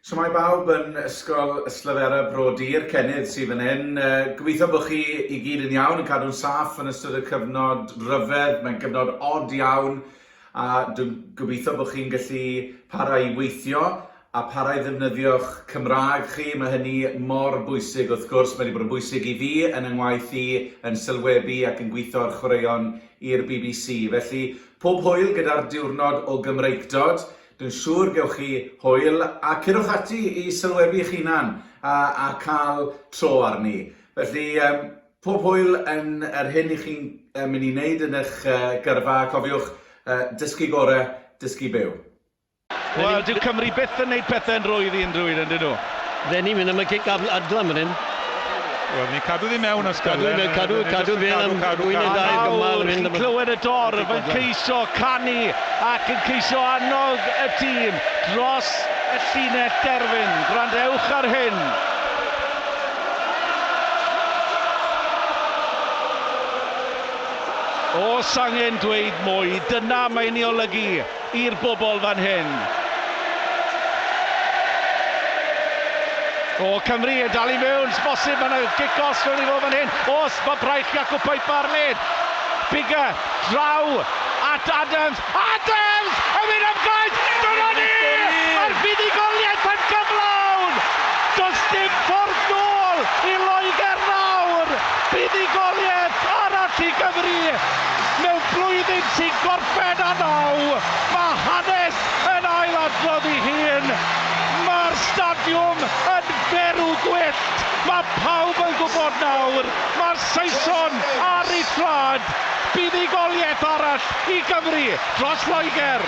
Shwmae bawb yn Ysgol Yslyfera Bro Dir, Cennydd sydd fan hyn. Gobeithio bod chi i gyd yn iawn, yn cadw'n saff yn ystod y cyfnod ryfedd. Mae'n gyfnod od iawn a dwi'n gobeithio bod chi'n gallu para i weithio a para i ddefnyddio'ch Cymraeg chi. Mae hynny mor bwysig wrth gwrs, mae wedi bod yn bwysig i fi yn yng ngwaith i yn sylwebu ac yn gweithio ar chwaraeon i'r bbc. Felly, pob hwyl gyda'r diwrnod o Gymreictod. Dwi'n siŵr gewch chi hwyl a curwch ati i sylwebu'ch hunan a a cael tro arni. Felly yym pob hwyl yn yr hyn i chi'n yy myn' i neud yn ych yy gyrfa a cofiwch yy dysgu gore, dysgu byw. Wel, dyw Cymru byth yn neud pethe'n rhwydd i unrhyw un, yndy nhw? Dden ni'n mynd am y cic adlam fan hyn. Wel, ni'n cadw ddi mewn os gael. Cadw, cadw, cadw fe am fwy neu ddau gymal yn mynd. Clywed y dorf yn ceisio canu ac yn ceisio annog y tîm dros y llinell derfyn. Gwrandewch ar hyn. Os angen dweud mwy, dyna mae'n ei olygu. i'r bobl fan hyn. O, Cymru yn dal i mewn, sy'n bosib, mae'n yna gic os fewn i fo fan hyn. Os, mae braich Jacob Piper ar led. Bigger, draw, at Adams. Adams! Yn mynd am gaeth! Dyna ni! A'r fuddugoliaeth yn gyflawn! Does dim ffordd nôl i Loegr nawr! Buddugoliaeth arall i Gymru! Ben a naw, mae hanes yn ailadrodd ei hun. Mae'r stadiwm yn berw gwyllt. Mae pawb yn gwybod nawr, mae'r Saeson ar eu traed. Buddugoliaeth arall i Gymru dros Loegr.